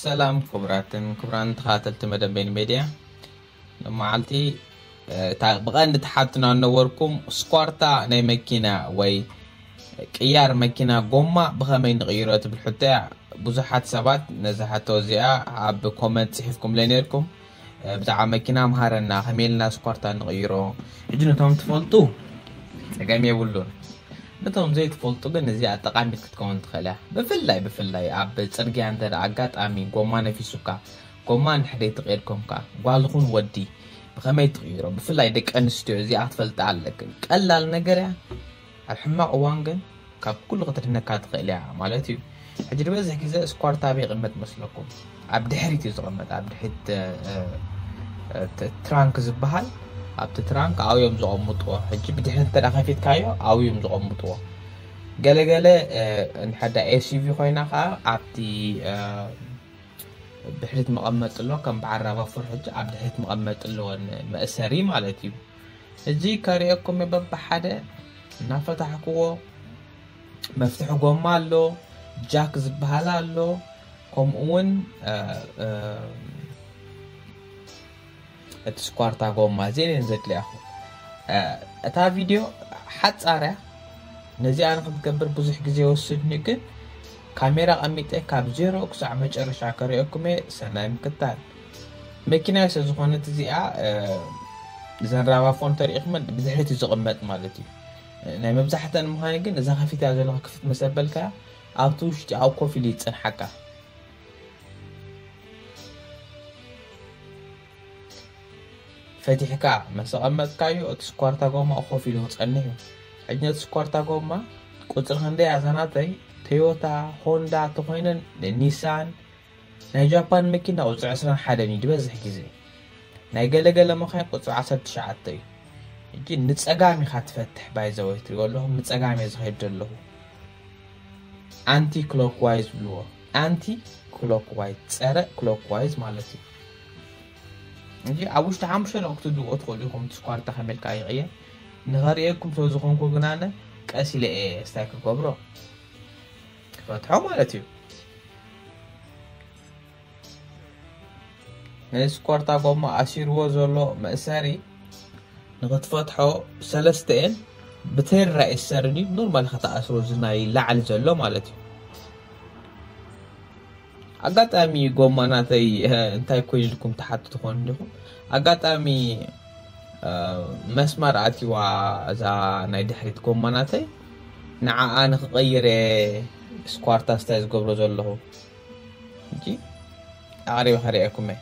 ሰላም ክቡራትን ክቡራን ተኸታተልቲ መደብ በይኑ ሜድያ መዓልቲ እታ ብቐንዲ ተሓትኖ ኣነበርኩም ስኳርታ ናይ መኪና ወይ ቅያር መኪና ጎማ ብኸመይ ንቕይሮ ትብል ሕቶ እያ ብዙሓት ሰባት ነዚ ሕቶ እዚኣ ኣብ ኮመንት ጽሒፍኩምለ ነርኩም ብዛዕባ መኪና ምሃረና ከመይ ኢልና ስኳርታ ንቕይሮ። ሕጂ ነቶም ትፈልጡ ጸገም የብሉን ነቶም ዘይትፈልጡ ግን እዚኣ ጠቃሚት ክትከውን ትኽእል እያ ብፍላይ ብፍላይ ኣብ ፅርግያ እንተ ኣጋጣሚ ጎማ ነፊሱካ ጎማ ንሕደይ ትቕይር ኮንካ ጓልኹን ወዲ ብኸመይ ትቕይሮ ብፍላይ ደቂ ኣንስትዮ እዚኣ ክትፈልጣ ኣለክን ቀላል ነገር እያ ኣብ ሕማቕ እዋን ግን ካብ ኩሉ ክትድነካ ትኽእል እያ ማለት እዩ። ሕጂ ዝበዝሕ ግዜ እስኳርት ኣበይ ይቕመጥ ይመስለኩም? ኣብ ድሕሪት እዩ ዝቕመጥ፣ ኣብ ድሕሪት ትራንክ ዝበሃል ኣብቲ ትራንክ ኣብኡ እዮም ዘቐምጥዎ። ሕጂ ብድሕሪት እንተ ከፊትካዮ ኣብኡ እዮም ዘቐምጥዎ። ገለገለ ንሓዳ ኤስዩቪ ኮይና ከዓ ኣብቲ ድሕሪት መቐመጢ ኣሎ፣ ከም በዓል ራቫፎር ሕጂ ኣብ ድሕሪት መቐመጢ ኣለወን መእሰሪ ማለት እዩ። ሕጂ ከርእየኩም እየ በብሓደ እናፈታሕክዎ መፍትሒ ጎማ ኣሎ ጃክ ዝበሃል ኣሎ ከምኡ እውን እቲ ስኳርታ ጎማ እዚአን እየን ዘድልያኹ እታ ቪድዮ ሓፃርያ ነዚኣ ንክትገብር ብዙሕ ግዜ ወስድኒ ግን ካሜራ ቀሚጠ ካብ ዜሮ ክሳዕ መጨረሻ ከርእየኩም እየ ሰናይ ምክታል መኪናይ ስለ ዝኾነት እዚኣ እዘን ራቫ ፎን ተሪኢኹመን ብድሕሪት እዩ ዝቕመጥ ማለት እዩ ናይ መብዛሕተን ምዃነ ግን እዛ ከፊታ ዘለካ ክፍት መሰበልካ ኣብቲ ውሽጢ ኣብ ኮፍ ኢሉ ይፅንሓካ ፈቲሕካ መሰቐመጥካዮ እቲ ስኳርታ ጎማ ኮፍ ኢሉ ክፀንሕ እዩ ሕጂ ነቲ ስኳርታ ጎማ ቁፅሪ ክንደይ ኣዛናተይ ቶዮታ ሆንዳ ተኮይነን ኒሳን ናይ ጃፓን መኪና ቁፅሪ ዕስራን ሓደን እዩ ዝበዝሕ ግዜ ናይ ገለ ገለ መኻይን ቁፅሪ ዓሰርተ ትሽዓተ እዩ እጂ ንፀጋም ኢኻ ትፈትሕ ባይዘወይ ትሪኦ ኣለኹም ንፀጋም እየ ዝኸይድ ዘለኹ ኣንቲ ክሎክዋይዝ ዝብልዎ ኣንቲ ክሎክዋይዝ ፀረ ክሎክዋይዝ ማለት እዩ እንጂ ኣብ ውሽጢ ሓሙሽተ ደቂ ክትድዎ ትኽእሉ ኢኹም ትስኳርታ ከመልካ ይቕየ ንኸርእየኩም ስለ ዝኾንኩ ግናነ ቀስ ኢለ እየ ስታይ ክገብሮ ክፈትሖ ማለት እዩ ናይ ስኮርታ ጎማ ኣሲርዎ ዘሎ መእሰሪ ንክትፈትሖ ሰለስተ እየን ብተራ ይሰርኒ ኖርማል ከተኣስሮ እዚ ናይ ላዕሊ ዘሎ ማለት እዩ ኣጋጣሚ ጎማ ናተይ እንታይ ኮይኑ ኢልኩም ትሓቱ ትኾኑ ዲኹም ኣጋጣሚ መስመር ኣትዋ እዛ ናይ ድሕሪት ጎማ ናተይ ንዓኣ ንክቐይረ ስኳርታ ስታይ ዝገብሮ ዘለኹ እንጂ ኣቕሪበ ከርእየኩም እየ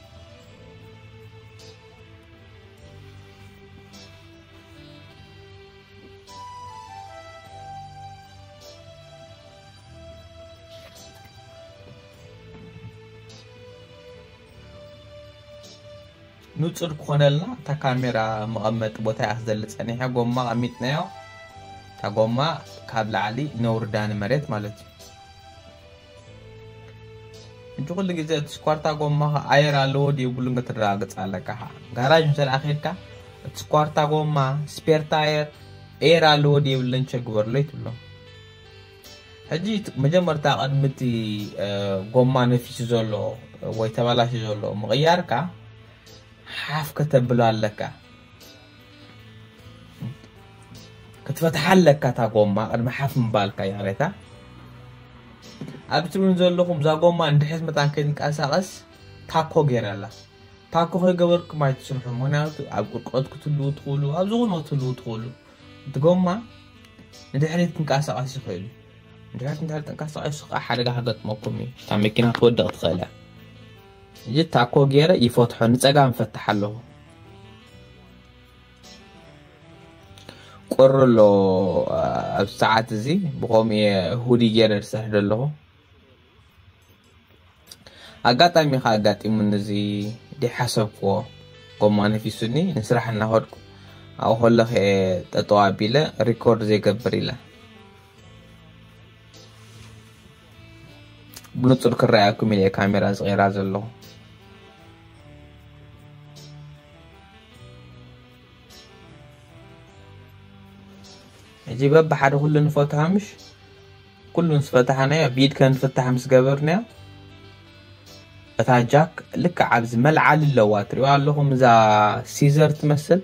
ንጹር ክኾነልና እታ ካሜራ መቐመጢ ቦታ እያ ክትዘሊ ጸኒሐ ጎማ ኣሚጥናዮ እታ ጎማ ካብ ላዕሊ ነውርዳ ንመሬት ማለት እዩ እንጂ ኩሉ ግዜ እቲ ስኳርታ ጎማ ኣየር ኣለዎ ድየብሉን ክትረጋግፅ ኣለካ ከዓ ጋራጅ እንተ ከድካ እቲ ስኳርታ ጎማ ስፔር ታየር ኤር ኣለዎ ድየብለን ቸግበርለይ ትብሎም ሕጂ መጀመርታ ቅድሚ እቲ ጎማ ነፊሱ ዘሎ ወይ ተባላሽዩ ዘሎ ምቕያርካ ሓፍ ከተብሎ ኣለካ ክትፈትሓ ኣለካ እታ ጎማ ቅድሚ ሓፍ ምባልካ ይቕሬታ ኣብቲ እውን ዘለኹም እዛ ጎማ እንድሕዝ መጣን ከይትንቀሳቐስ ታኮ ገይረላ ታኮ ከይገበርኩም ኣይትስርሑ ምክንያቱ ኣብ ቁርቆት ክትልዉ ትኽእሉ ኣብ ዝኾነ ክትልዉ ትኽእሉ እቲ ጎማ ንድሕሪት ክንቀሳቐስ ይኽእል እዩ ድሕሪት እንድሕር ተንቀሳቐሱ ከዓ ሓደጋ ከገጥመኩም እዩ እታ መኪና ክትወድቕ ትኽእል እያ እዚ ታኮ ገይረ ይፈትሖ ንፀጋም ፈትሕ ኣለኹ ቁሪ ኣሎ ኣብ ሰዓት እዚ ብከምኡ እየ ሁዲ ገይረ ዝሰርሕ ዘለኹ ኣጋጣሚ ከኣ ኣጋጢሙኒ እዚ ደይሓሰብክዎ ጎማ ነፊሱኒ ንስራሕ እናኸድኩ ኣብኡ ከለኹ እየ ጠጠው ኣቢለ ሪኮርድ ዘይገብር ኢለ ብንጹር ክረኣየኩም ኢለ ካሜራ ዝቐይራ ዘለኹ ሕጂ በብሓደ ኩሉ ንፈትሖ ምሽ ኩሉ ምስ ፈታሕናዮ ብኢድካ ንፍታሕ ምስ ገበርናዮ እታ ጃክ ልክዕ ኣብዚ መልዓሊ ኣለዋ ትሪኦ ኣለኹም እዛ ሲዘር ትመስል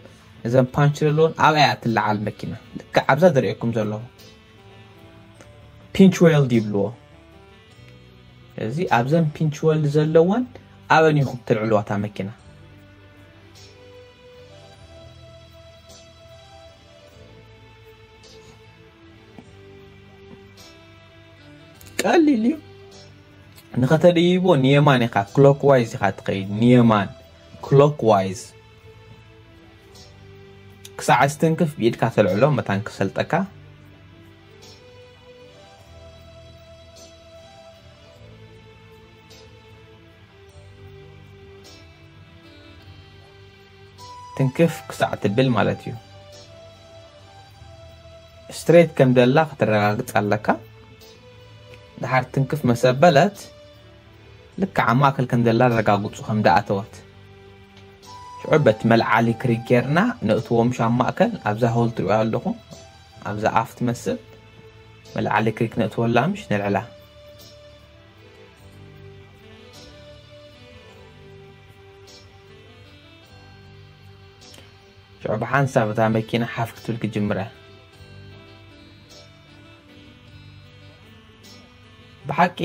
እዘን ፓንች ዘለዎን ኣብኣ እያ ትለዓል መኪና ልክዕ ኣብዛ ዝርእየኩም ዘለኹ ፒንች ዌልድ ይብልዎ እዚ ኣብዘን ፒንች ወልድ ዘለወን ኣበን ኢኹም ትልዕልዋ እታ መኪና ቀሊል እዩ ንኸተደይቦ ንየማን ኢኻ ክሎክ ዋይዝ ኢኻ ትኸይድ ንየማን ክሎክ ዋይዝ ክሳዕ ዝትንክፍ ብኢድካ ተልዕሎ መታን ክሰልጠካ ትንክፍ ክሳዕ ትብል ማለት እዩ ስትሬት ከም ደላ ክትረጋግጽ ኣለካ ድሓር ትንክፍ መሰበለት ልክዕ ኣብ ማእከል ከም ዘላ ረጋግጹ ከም ደኣተወት ሽዑ በት መልዓሊ ክሪ ጌርና ነእትዎም ሻብ ማእከል ኣብዛ ሆል ትሪኦ ኣለኹም ኣብዛ ኣፍ ትመስል መልዓሊ ክሪ ክነእትወላ ምሽ ነልዕላ ሽዑ ብሓንሳብ እታ መኪና ሓፍ ክትብል ክጅምረ ብሓቂ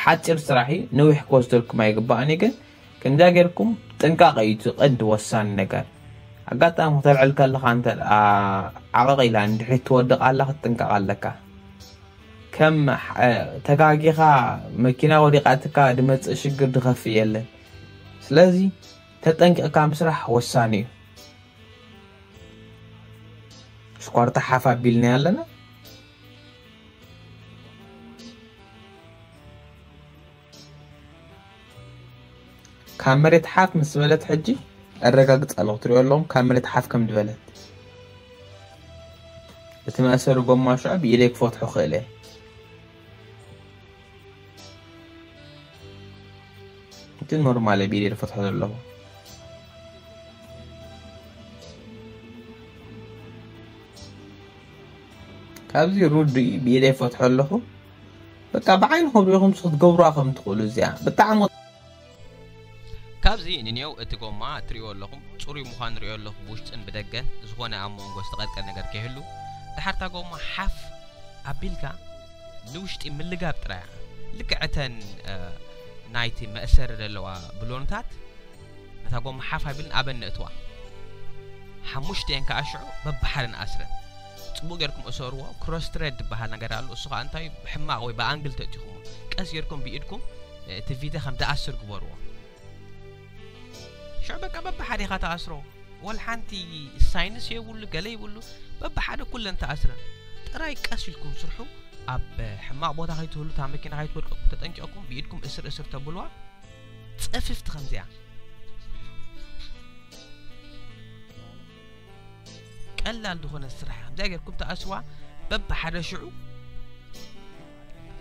ሓፂር ስራሕ እዩ ነዊሕ ክወስደልኩም ኣይግባእን እዩ ግን ከምዛ ጌርኩም ጥንቃቐ እዩ እቲ ቀንዲ ወሳኒ ነገር ኣጋጣሚ ክተልዕል ከለካ እንተ ዓቐቕ ኢላ እንድሕሪ ትወድቕ ኣላ ክትጥንቀቕ ኣለካ ከም ተጋጊኻ መኪና ወዲቃትካ ድመፅእ ሽግር ድኸፍእ የለን ስለዚ ተጠንቂቕካ ምስራሕ ወሳኒ እዩ ሽኳርታ ሓፍ ኣቢልና ኣለና ካብ መሬት ሓፍ ምስ በለት ሕጂ ኣረጋግጽ ኣለኹ ትሪኦ ኣለኹም ካብ መሬት ሓፍ ከም ዝበለት እቲ መእሰሪ ጎማ ሽዑ ብኢደይ ክፈትሖ ክእል እየ እቲ ኖርማል እየ ብኢደይ ዝፈትሖ ዘለኹ ካብዚ ሩድ ብኢደይ ፈትሖ ኣለኹ በቃ ብዓይንኹም ሪኹም ክትገብሩዋ ከም ትኽእሉ እዚኣ ብጣዕሚ ካብዚ ንኔው እቲ ጎማ እትሪእዎ ኣለኹም ፅሩይ ምዃኑ ሪኦ ኣለኹ ብውሽጥን ብደገን ዝኾነ ኣብ ሞንጎ ዝተቐጥቀ ነገር ከይህሉ ድሓር እታ ጎማ ሓፍ ኣቢልካ ንውሽጢ ምልጋብ ጥራይ እያ ልክዕ እተን ናይቲ መእሰሪ ዘለዋ ብሎንታት ነታ ጎማ ሓፍ ኣቢልን ኣበን ነእትዋ ሓሙሽተኤን ከዓ ሽዑ በብሓደን ኣስረን ጽቡቅ ጌርኩም እሰርዎ ክሮስ ትረድ ዝበሃል ነገር ኣሎ እሱ ከኣ እንታይ ብሕማቅ ወይ ብኣንግል ተእቲኹሞ ቀስ ጌርኩም ብኢድኩም እቲ ቪድዮ ከም ዝኣስር ግበርዎ ሽዑ በቃ በብሓዲኻ ተኣስሮ ወል ሓንቲ ሳይንስ የብሉ ገለ ይብሉ በብሓደ ኩለን ተኣስረን ጥራይ ቀስ ኢልኩም ስርሑ ኣብ ሕማቅ ቦታ ከይትህሉ እታ መኪና ከይትወድቀኩም ተጠንቂቕኩም ብኢድኩም እስር እስር ተብልዋ ጽፍፍቲ ከምዚኣ ቀላል ዝኾነ ስራሕ ከምዚኣ ጌርኩም ተኣስዋ በብሓደ ሽዑ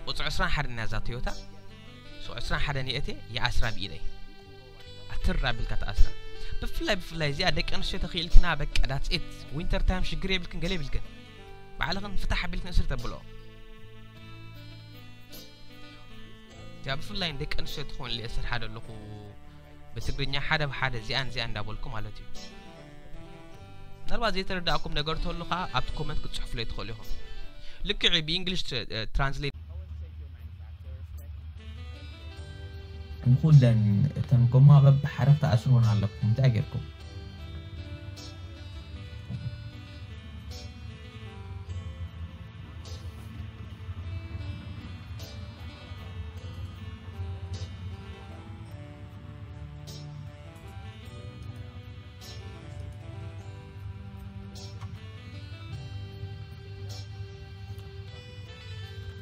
ቁፅሪ ዕስራን ሓደን እያ እዛ ቶዮታ ሱቅ ዕስራን ሓደን የእቴ ይኣስራ ብኢደይ ኣትር ኣቢልካ ተኣስራ ብፍላይ ብፍላይ እዚኣ ደቂ ኣንስትዮ ተኽኢልክና በቃ ዳትሴት ዊንተር ታይም ሽግር የብልክን ገለ የብልክን ባዕልኽን ፍታሕ ኣቢልክን እስሪ ተብልኦ እዚኣ ብፍላይ ደቂ ኣንስትዮ ትኾን እየ ስርሓ ዘለኹ ብትግርኛ ሓደ ብ ሓደ እዚኣን እዚኣን እንዳበልኩ ማለት እዩ ምናልባት ዘይተረዳእኩም ነገር ተሉ ከዓ ኣብቲ ኮመንት ክትፅሕፍለይ ትኽእሉ ኢኹም ልክዕ ብእንግሊሽ ትራንስሌት ንኹለን እተን ጎማ በብሓረግ ተኣስርወን ኣለኩም እንታይ ጌርኩም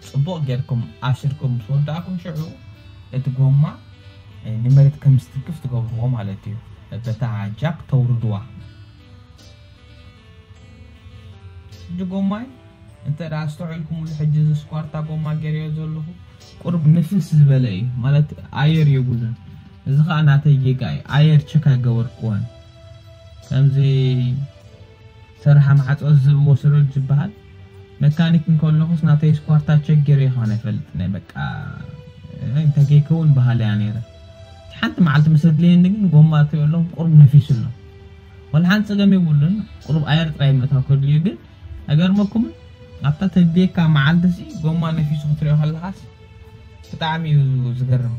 ጽቡቕ ጌርኩም ኣሲርኩም ምስ ወዳእኩም ሽዑ እቲ ጎማ ንመሬት ከም ዝትንክፍ ትገብርዎ ማለት እዩ በታ ጃክ ተውርድዋ ሕጂ ጎማይ እንተ ኣስተውዕልኩሙሉ ሕጂ እዚ ስኳርታ ጎማ ገይረዮ ዘለኹ ቁሩብ ንፍስ ዝበለ እዩ ማለት ኣየር የብሉን እዚ ከዓ ናተይ ጌጋ እዩ ኣየር ቸክ ኣይገበርኩዎን ከምዚ ሰራሓ ማዕፆ ዝብ ወሰዶ ዝበሃል መካኒክ እንከለኹስ ናተይ ስኳርታ ቸክ ገይረ ይኸውን ኣይፈልጥን በቃ እንታይ ከይከውን በሃሊ እያ ነይረ ሓንቲ መዓልቲ ምስ ኣድለየኒ ግን ጎማ ኣእትየሎም ቁሩብ ነፊሱ ኣሎ ወላ ሓንቲ ጸገም የብሉን ቁሩብ ኣየር ጥራይ ምእታው ከድልዮ ግን ኣይገርመኩምን ኣብታ ተድልየካ መዓልቲ'ሲ ጎማ ነፊሱ ክትሪኦ ከለኻስ ብጣዕሚ እዩ ዝገርም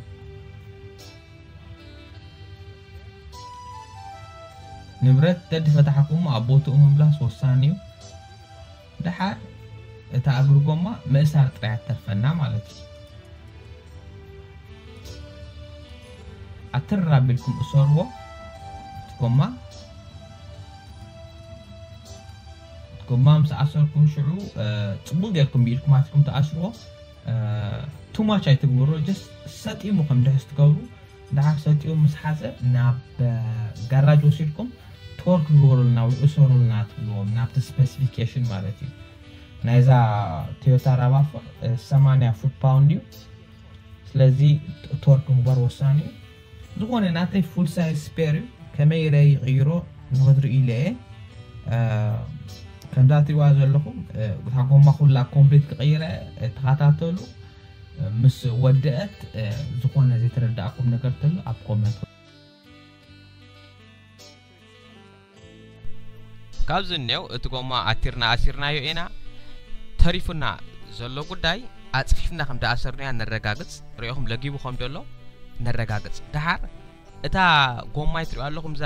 ንብረት ተድፈታሕኩም ኣብ ቦትኡ ምምላስ ወሳኒ እዩ። ደሓር እታ እግሪ ጎማ ምእሳር ጥራይ እያ ትተርፈና ማለት እዩ። ኣትርር ኣቢልኩም እሰርዎ እቲ ጎማ። እቲ ጎማ ምስ ኣሰርኩም ሽዑ ጽቡቕ ጌርኩም ብኢድኩም ኣትኩም ትኣስርዎ። ቱማች ኣይትግብሮ ጀስት ሰጢሙ ከም ድሕስ ትገብሩ ደሓር ሰቲኡ ምስ ሓጸ ናብ ጋራጅ ወሲድኩም ቶርክ ግበሩልና ወይ እሰሩልና ትብልዎም ናብቲ ስፐሲፊኬሽን ማለት እዩ። ናይዛ ቶዮታ ራቫፎር ሰማንያ ፉት ፓውንድ እዩ። ስለዚ ቶርክ ምግባር ወሳኒ እዩ። ዝኾነ ናተይ ፉል ሳይዝ ስፔር እዩ ከመይ ኢለ ይቕይሮ ንኽትርኢ ኢለ እየ ከምዛ ትሪእዋ ዘለኹም እታ ጎማ ኩላ ኮምፕሊት ክቕይረ ተኸታተሉ። ምስ ወደእት ዝኮነ ዘይተረዳኣኩም ነገር ተሎ ኣብ ኮመንት። ካብዚ እንየው እቲ ጎማ ኣቲርና ኣሲርናዮ ኢና ተሪፉና ዘሎ ጉዳይ ኣጽፊፍና ከምደኣሰርንያ ነረጋግጽ ሪኦኹም ለጊቡ ከምደሎ ነረጋግጽ ደሓር እታ ጎማይ ትሪኦ ኣለኹም እዛ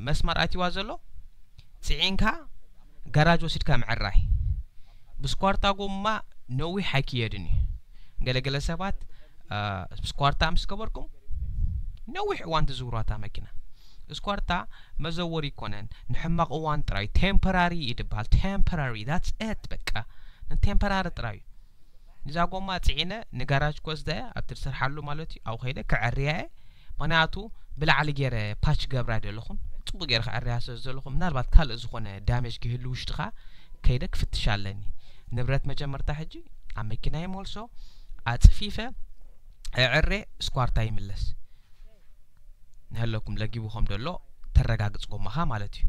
መስመር ኣትዋ ዘሎ ፅዒንካ ጋራጅ ወሲድካ ምዕራይ ብስኳርታ ጎማ ነዊሕ ኣይክየድን እዩ ገለገለ ሰባት ስኳርታ ምስ ገበርኩም ነዊሕ እዋን ትዝውሯታ መኪና ስኳርታ መዘወሪ ይኮነን ንሕማቕ እዋን ጥራይ ቴምፖራሪ እዩ ድበሃል ቴምፖራሪ ዳትስ ኤት በቃ ንቴምፖራሪ ጥራይ እዩ ንዛ ጎማ ጺዒነ ንጋራጅ ክወስዳ ኢየ ኣብቲ ዝሰርሓሉ ማለት ኢዩ ኣብኡ ከይደ ከዐርያ ኢየ ምክንያቱ ብላዕሊ ጌረ ፓች ክገብራ ኣይደለኹን ጽቡቅ ጌረ ከዐርያ ስለ ዝደለኹ ምናልባት ካልእ ዝኾነ ዳሜጅ ክህሉ ውሽጥኻ ከይደ ክፍትሽ ኣለኒ ንብረት መጀመርታ ሕጂ ኣብ መኪና ይመልሶ ኣጽፊፈ እዕሬ ስኳርታ ይምለስ ንሀለኩም ለጊቡ ከም ደሎ ተረጋግጽ ጎማኻ ማለት እዩ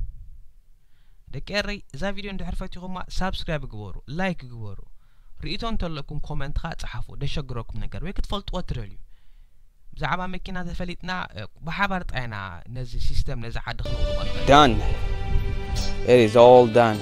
ደቂ ኤረይ እዛ ቪድዮ እንድሕር ፈቲኹማ ሳብስክራይብ ግበሩ ላይክ ግበሩ ሪኢቶ እንተለኩም ኮመንት ከኣ ጸሓፉ ደሸግረኩም ነገር ወይ ክትፈልጥዎ ትደልዩ ብዛዕባ መኪና ተፈሊጥና ብሓባር ጣይና ነዚ ሲስተም ነዚ ዓዲ ክንውልቆ ንኽእል done it is all done